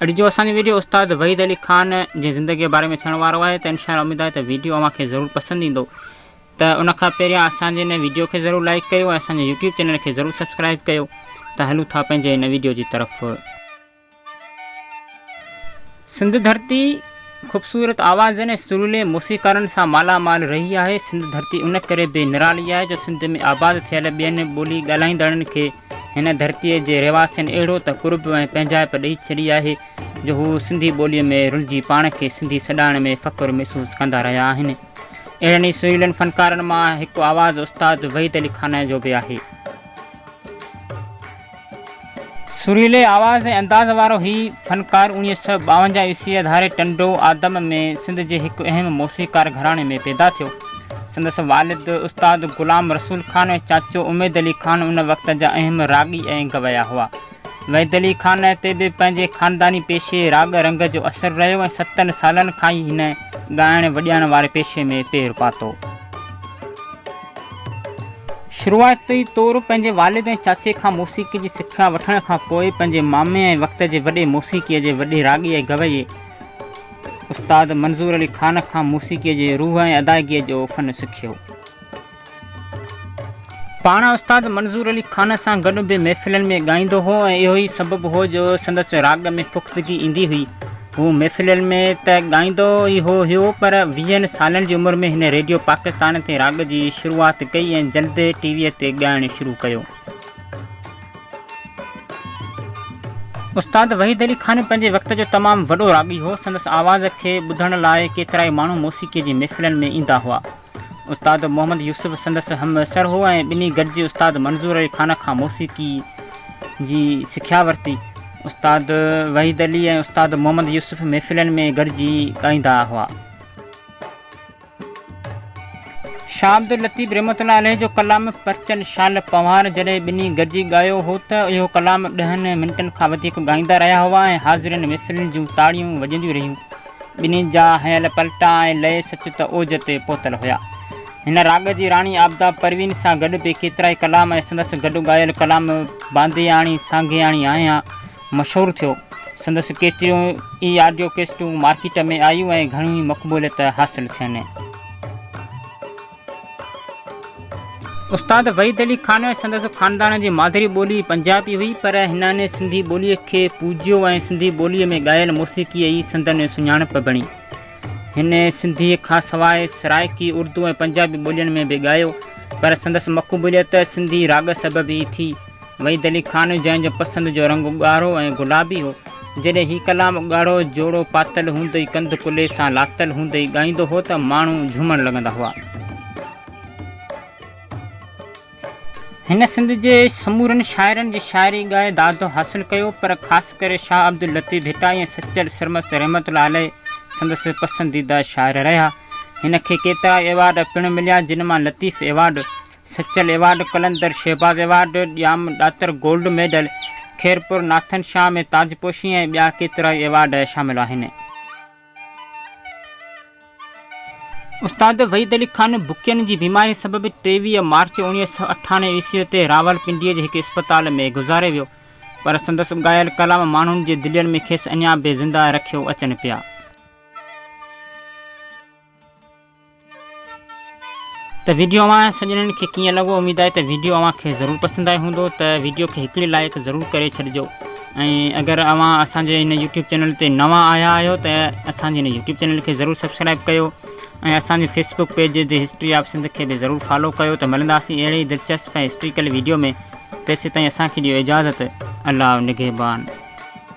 اھڙي جو اسان جو ويڊيو استاد وحيد علي خان جي زندگي جي باري ۾ ٿيڻ وارو آھي ته انشاء الله اميد آھي ته ويڊيو اوھان کي ضرور پسند ايندو ته ان کان پهريان اسان جي ان ويڊيو کي ضرور لائيڪ ڪيو ۽ اسان جي يوٽيوب چينل کي ضرور سبسڪرائيب ڪيو ته ھلون ٿا پنھنجي ان ويڊيو جي طرف. سنڌ ڌرتي خوبصورت آوازن ۽ سريلي موسيقارن سان مالا مال رھي آھي. سنڌ ڌرتي ان ڪري به نرالي آھي جو سنڌ ۾ آباد ٿيل ٻين ٻولي ڳالھائيندڙن کي هن ڌرتيء جي رهواسين اهڙو ته قرب ۽ پنهنجائپ ڏئي ڇڏي آهي جو هو سنڌي ٻوليء ۾ رلجي پاڻ کي سنڌي سڏائڻ ۾ فخر محسوس ڪندا رهيا آهن. اهڙن ئي سريلن فنڪارن مان هڪ آواز استاد وحيد علي خانائي جو به آهي. سريلي آواز ۽ انداز وارو هي فنڪار اوڻيهه سؤ ٻاونجاهه عيسويء ڌاري ٽنڊو آدم ۾ سنڌ جي هڪ اهم موسيقار گهراڻي ۾ پيدا ٿيو. سندس والد استاد غلام رسول خان ۽ چاچو اميد علي خان ان وقت جا اهم راڳي ۽ گويا هئا. وحيد علي خان تي به پنهنجي خانداني پيشي راڳ رنگ جو اثر رهيو ۽ ستن سالن کان ئي هن ڳائڻ وڄائڻ واري پيشي ۾ پير پاتو. شروعاتي طور پنهنجي والد ۽ چاچي کان موسيقي جي سکيا وٺڻ کان پوء پنهنجي مامي ۽ وقت جي وڏي موسيقي جي وڏي راڳي ۽ گويي استاد منظور علي خان کان موسيقيء جي روح ۽ ادائگيء جو فن سکيو. پاڻ استاد منظور علي خان سان گڏ به محفلن ۾ ڳائيندو هو ۽ اهو ئي سبب هو جو سندس راڳ ۾ پختگي ايندي هئي. هو محفلن ۾ ته ڳائيندو ئي هو هيو پر ويهن سالن جي عمر ۾ هن ريڊيو پاڪستان تي راڳ جي شروعات ڪئي ۽ جلد ٽي ويء تي ڳائڻ شروع ڪيو. استاد وحيد علي خان پنهنجي وقت جو تمام وڏو راڳي هو. سندس آواز کي ٻڌڻ لاء ڪيترائي ماڻهو موسيقيء جي محفلن ۾ ايندا هئا. استاد محمد يوسف سندس همعصر هو ۽ ٻنهي گڏجي استاد منظور علي خان کان موسيقي جي سکيا ورتي. استاد وحيد علي ۽ استاد محمد يوسف محفلن ۾ گڏجي ڳائيندا هئا. شاه عبداللطيف رحمة الله عليه جو ڪلام پرچن شال پنهوار جڏهن ٻنهي گڏجي ڳايو هو ته اهو ڪلام ڏهن منٽن کان وڌيڪ ڳائيندا رهيا هئا ۽ حاضرين محفلين جون تاڙيون وڄنديون رهيون. ٻنهي جا هنيل پلٽا ۽ لئي سچ ته اوج تي پهتل هيا. هن راڳ جي راڻي آبدا پروين سان گڏ به ڪيترائي ڪلام ۽ سندس گڏ ڳايل ڪلام باندياڻي سانگياڻي آهيان، مشهور ٿيو. سندس ڪيتريون ئي آڊيو ڪيسٽون مارڪيٽ ۾ آيون ۽ گهڻيون ئي مقبوليت حاصل ٿين. استاد وحيد علي خان ۽ سندس خاندان جي مادري ٻولي پنجابي هئي، پر هنن سنڌي ٻوليء کي پوجيو ۽ سنڌي ٻوليء ۾ ڳايل موسيقيء ئي سندن سڃاڻپ بڻي. هن سنڌيء کانسواء سرائڪي، اردو ۽ پنجابي ٻولين ۾ به ڳايو، پر سندس مقبوليت سنڌي راڳ سبب ئي ٿي. وحيد علي خان جنهن جو پسند جو رنگ ڳاڙهو ۽ گلابي هو، جڏهن هي ڪلام ڳاڙهو جوڙو پاتل هوندي ئي ڪنڌ ڪلهي سان لاتل هوندي ئي ڳائيندو هو ته ماڻهو جهومڻ لڳندا هئا. هن سنڌ جي سمورن شاعرن جي شاعري ڳائي داد حاصل ڪيو پر خاص ڪري شاهه عبداللطيف ڀٽائي ۽ سچل سرمست رحمت الله عليه سندس پسنديده شاعر رهيا. هن کي ڪيترائي ايوارڊ پڻ مليا جن مان Latif award Sachal award, Qalandar Shahbaz award, Jam Datar gold medal, Khairpur Nathan Shah ۾ تاجپوشي ۽ ٻيا ڪيترائي ايوارڊ شامل آهن. استاد وحيد علي خان بکين جي بيماري سبب ٽيويهه مارچ اوڻيهه سؤ اٺاڻوي عيسوي تي راولپنڊيء جي هڪ اسپتال ۾ گذاري ويو، پر سندس ڳايل ڪلام ماڻهن جي دلين ۾ کيس اڃا به زنده رکيو اچن پيا. ته ويڊيو اوهان سڄڻن کي ڪيئن لڳو اميد آهي ته ويڊيو اوهان کي ضرور پسند آيو هوندو ته ويڊيو کي هڪڙي لائيڪ ضرور ڪري ڇڏجو ۽ اگر اوهان اسان جي هن يوٽيوب چينل تي نوان آيا آهيو ته اسان جي هن يوٽيوب چينل کي ضرور سبسڪرائب ڪيو ۽ اسان جي Facebook page the history of Sindh کي به ضرور فالو ڪيو ته ملنداسين اهڙي ئي دلچسپ ۽ هسٽريڪل ويڊيو ۾ تيسيتائين اسان کي ڏيو اجازت الله نگهبان